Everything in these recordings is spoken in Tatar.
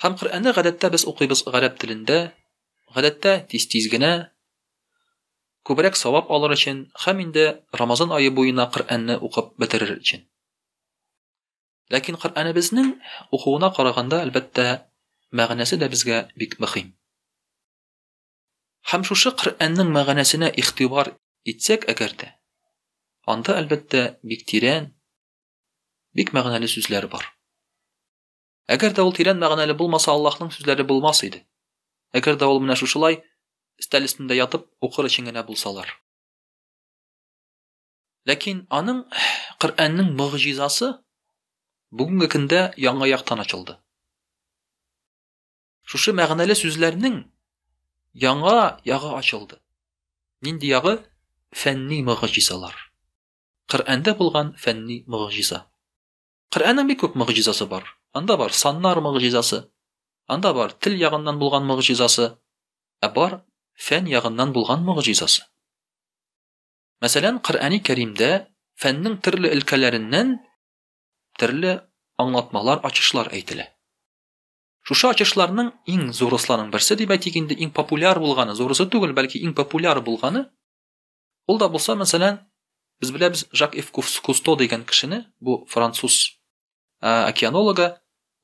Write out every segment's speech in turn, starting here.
Һәм Коръәнне гадәттә без укыйбыз гарәп телендә, гадәттә тиз-тиз генә, күбрәк савап алыр өчен һәм инде Рамазан ае буена Коръәнне укып бетерер өчен. Ләкин Коръәнебезнең укуына караганда, әлбәттә, мәгънәсе дә безгә бик мөһим. Һәм шушы Коръәннең мәгънәсенә игътибар итсәк әгәр дә, анда, әлбәттә, бик тирән, бик мәгънәле сүзләр бар. Әгәр дә ул тирән мәгънәле булмаса, Аллаһның сүзләре булмас иде. Әгәр дә ул менә шушылай, өстәл өстендә ятып, укыр өчен генә булсалар. Ләкин аның Коръәннең мөгъҗизасы бүгенге көндә яңа яктан ачылды. Шушы мәгънәле сүзләрнең яңа ягы ачылды. Нинди ягы? Фәнни мөгъҗизалар. Коръәндә булган фәнни мөгъҗиза. Коръәннең бик күп могҗизасы бар. Анда бар саннар могҗизасы, анда бар тел ягыннан булган могҗизасы, ә бар фән ягыннан булган могҗизасы. Мәсәлән, Коръәни Кәримдә фәннең төрле өлкәләреннән төрле аңлатмалар, ачышлар әйтелә. Шушы ачышларның иң зурысларның берсе дип әйтик инде, иң популяр булганы, зурысы түгел, бәлки иң популяр булганы, Ул да булса, мәсәлән, без беләбез Жак Ив Кусто дигән кешене, бу француз океанологы,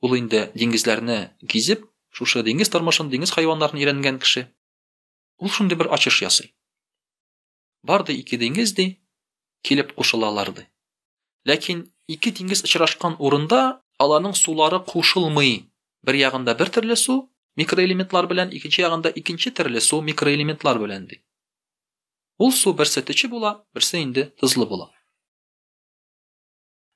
ул инде диңгезләрне гизеп, шушы диңгез тормышын, диңгез хайваннарын өйрәнгән кеше. Ул шундый бер ачыш ясый. Бар ди ике диңгез ди, килеп кушылалар ди. Ләкин ике диңгез очрашкан урында аларның сулары кушылмый. Бер ягында бер төрле су микроэлементлар белән, икенче ягында икенче төрле су микроэлементлар белән ди. Ул су берсе төче була, берсе инде тозлы була.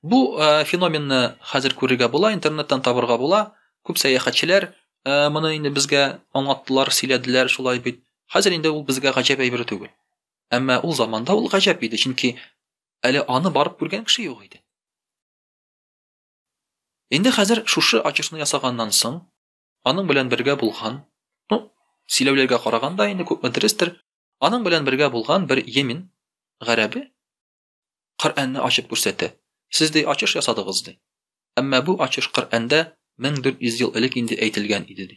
Бу э, феноменны хәзер күрергә була, интернеттан табырга була. Күп сәяхәтчеләр э, моны инде безгә аңлаттылар, сөйләделәр, шулай бит. Хәзер инде ул безгә гаҗәп әйбер түгел. Әмма ул заманда ул гаҗәп иде, чөнки әле аны барып күргән кеше юк иде. Инде хәзер шушы очешны ясаганнан соң, Аның белән бергә булган, ну, сөйләүләргә караганда инде күпме дөрестер, аның белән бергә булган бер йемен гарәбе Коръәнне ачып күрсәтә. Сез дә ачыш ясадыгыз ди. Әмма бу ачыш Коръәндә 1400 ел элек инде әйтелгән иде ди.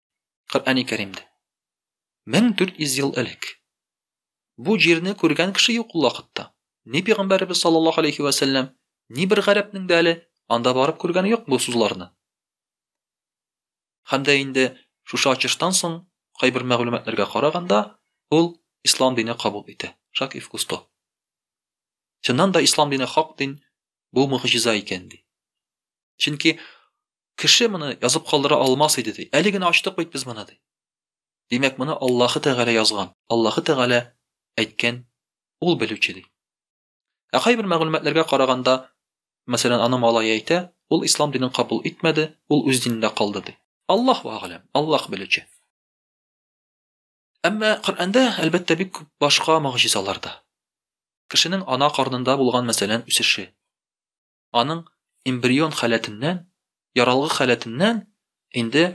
Коръәни Кәримдә. 1400 ел элек. Бу җирне күргән кеше юк ул вакытта. Ни пигамбәребез саллаллаһу алейхи ва сәлләм, ни бер гарәпнең дә әле анда барып күргәне юк бу сузларны. Һәм дә инде шушы ачыштан соң кайбер мәгълүматларга караганда, ул ислам дине кабул итә. Шак и вкусто. Чыннан да ислам дине хак дин, бу мөгъҗиза икән ди. Чөнки Кеше моны язып калдыра алмас иде, ди. Әле генә ачтык бит без моны, ди. Димәк, моны Аллаһы Тәгалә язган, Аллаһы Тәгалә әйткән, Ул белүче, ди. Ә кайбер мәгълүматларга караганда, мәсәлән, аны малае әйтә, ул ислам динен кабул итмәде, ул үз динендә калды, ди. Аллаһу әгъләм, Аллаһ белүче. Әмма Коръәндә, әлбәттә, бик күп башка могҗизалар да. Кешенең ана карнында булган, мәсәлән, үсеше. аның эмбрион халәтеннән, яралгы халәтеннән инде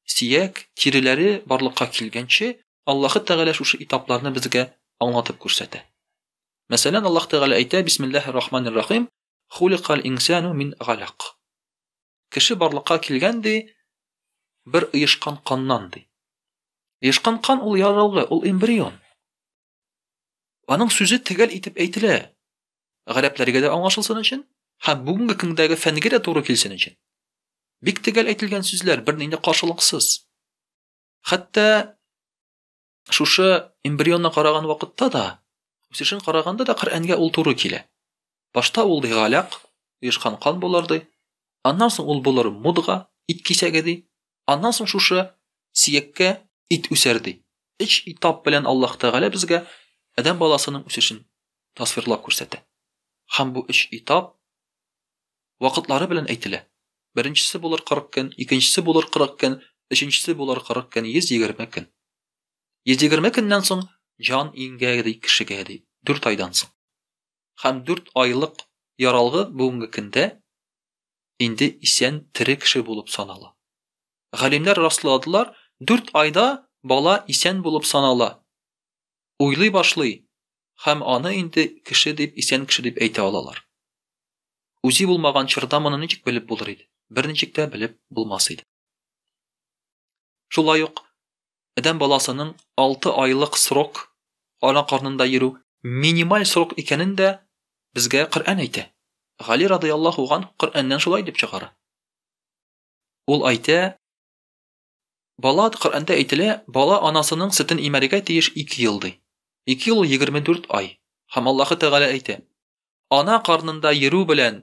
сөяк, тиреләре барлыкка килгәнче Аллаһы Тәгалә шушы этапларны безгә аңлатып күрсәтә. Мәсәлән, Аллаһ Тәгалә әйтә, Бисмиллаһир рахманир рахим, хуликаль инсану мин галак. Кеше барлыкка килгән ди, бер оешкан каннан ди. Оешкан кан ул яралгы, ул эмбрион. Аның сүзе төгәл итеп әйтелә. Гарәпләргә дә аңлашылсын өчен һәм бүгенге көндәге фәнгә дә туры килсен өчен. Бик төгәл әйтелгән сүзләр бернинди каршылыксыз. Хәтта шушы эмбрионны караган вакытта да, үсешен караганда да Коръәнгә ул туры килә. Башта ул ди галяк, оешкан кан булыр ди. Аннан соң ул булыр мудга, ит кисәге ди. Аннан соң шушы сияккә ит үсәр ди. Өч этап белән Аллаһ Тәгалә безгә адәм баласының үсешен тасвирлап күрсәтә. Һәм бу өч этап вакытлары белән әйтелә. Беренчесе булыр 40 көн, икенчесе булыр 40 көн, өченчесе булыр 40 көн, 120 көн. 120 көннән соң җан иңгә ди кешегә ди, 4 айдан соң. һәм 4 айлык яралгы бүгенге көндә инде исән тере кеше булып санала. Галимнәр расладылар, 4 айда бала исән булып санала. Уйлый башлый һәм аны инде кеше дип, исән кеше дип әйтә алалар. Үзе булмаган чорда моны ничек белеп булыр иде? Берничек тә белеп булмас иде. Шулай ук адәм баласының алты айлык срок ана карнында йөрү минималь срок икәнен дә безгә Коръән әйтә. Гали радыяллаһу ганһ Коръәннән шулай дип чыгара. Ул әйтә, Бала, Коръәндә әйтелә, бала анасының сөтен имәргә тиеш ике ел, ди. Ике ел егерме дүрт ай. Һәм Аллаһы Тәгалә әйтә, Ана карнында йөрү белән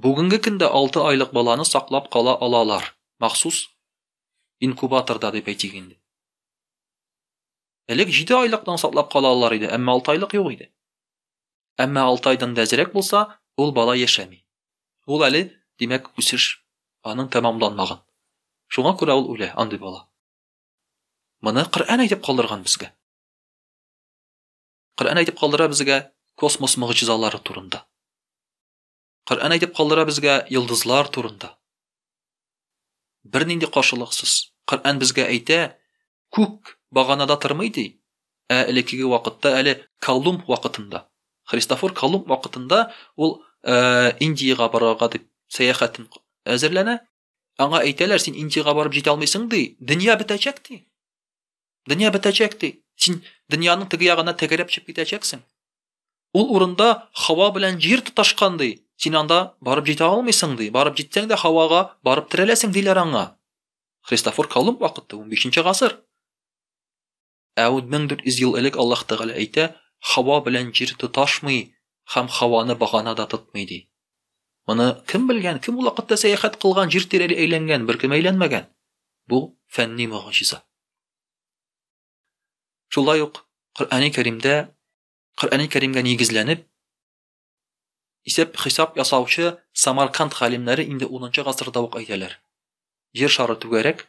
Бүгенге көндә алты айлык баланы саклап кала алалар, махсус инкубаторда дип әйтик инде. Элек җиде айлыктан саклап кала алалар иде, әмма алты айлык юк иде. Әмма алты айдан да әзрәк булса, ул бала яшәми. Ул әле, димәк, үсеш аның тәмамланмаган. Шуңа күрә ул үлә, андый бала. Моны Коръән әйтеп калдырган безгә. Коръән әйтеп калдыра безгә космос могҗизалары турында. Коръән әйтеп калдыра безгә йолдызлар турында. Бернинди каршылыксыз. Коръән безгә әйтә, күк баганада тормый ди, ә элеккеге вакытта әле Колумб вакытында, Христофор Колумб вакытында ул э, Индиягә барырга дип сәяхәтен әзерләнә, Аңа әйтәләр, син Индиягә барып җитә алмыйсың ди. Дөнья бетәчәк ди. Дөнья бетәчәк ди. Син дөньяның теге ягына тәгәрәп чыгып китәчәксең. Ул урында һава белән җир тоташкан ди. Син анда барып җитә алмыйсың ди. Барып җитсәң дә һавага барып терәләсең диләр аңа. Христофор Колумб вакыты 15 нче гасыр. Ә 1400 ел элек Аллаһ Тәгалә әйтә, Һава белән җир тоташмый һәм һаваны багана да тотмый, ди. Моны кем белгән, кем ул вакытта сәяхәт кылган, җир тирәли әйләнгән, беркем әйләнмәгән. Бу фәнни мөгъҗиза. Шулай ук Коръәни Кәримдә, Коръәни Кәримгә нигезләнеп, исәп хисап ясаучы Самарканд галимнәре инде 10 гасырда ук әйтәләр. Җир шары түгәрәк,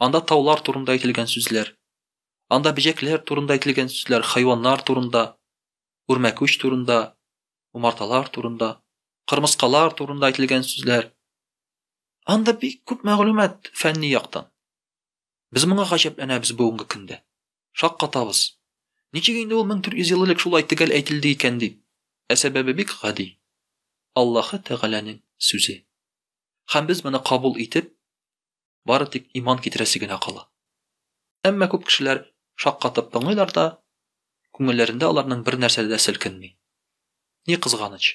Анда таулар турында әйтелгән сүзләр. Анда бөҗәкләр турында әйтелгән сүзләр, хайваннар турында, үрмәкүч турында, умарталар турында, кырмыскалар турында әйтелгән сүзләр. Анда бик күп мәгълүмат фәнни яктан. Без моңа гаҗәпләнәбез бүгенге көндә. Шаккатабыз. Ничек инде ул 1400 ел элек шулай төгәл әйтелде икән дип? Ә сәбәбе бик гади. Аллаһы Тәгаләнең сүзе. Һәм без моны кабул итеп, бары тик иман китерәсе генә кала. Әмма күп кешеләр шаккатып тыңлыйлар да, күңелләрендә аларның бер нәрсә дә селкенми. Ни кызганыч,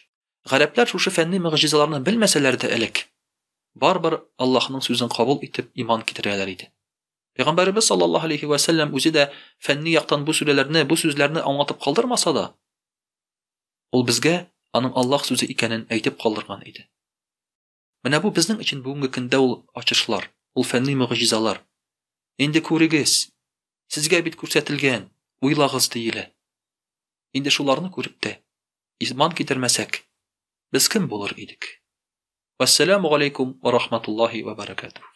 гарәпләр шушы фәнни мөгъҗизаларны белмәсәләр дә элек, барыбер Аллаһның сүзен кабул итеп иман китерәләр иде. Пәйгамбәребез саллаллаһу алейхи ва сәлләм үзе дә фәнни яктан бу сүрәләрне, бу сүзләрне аңлатып калдырмаса да, ул безгә аның Аллаһ сүзе икәнен әйтеп калдырган иде. Менә бу безнең өчен бүгенге көндә ул ачышлар, ул фәнни могҗизалар. Инде күрегез! Сезгә бит күрсәтелгән, уйлагыз, диелә. Инде шуларны күреп тә, иман китермәсәк, без кем булыр идек? Вәссәламу галәйкүм вә рахматуллаһи вә бәрәкәтүһ.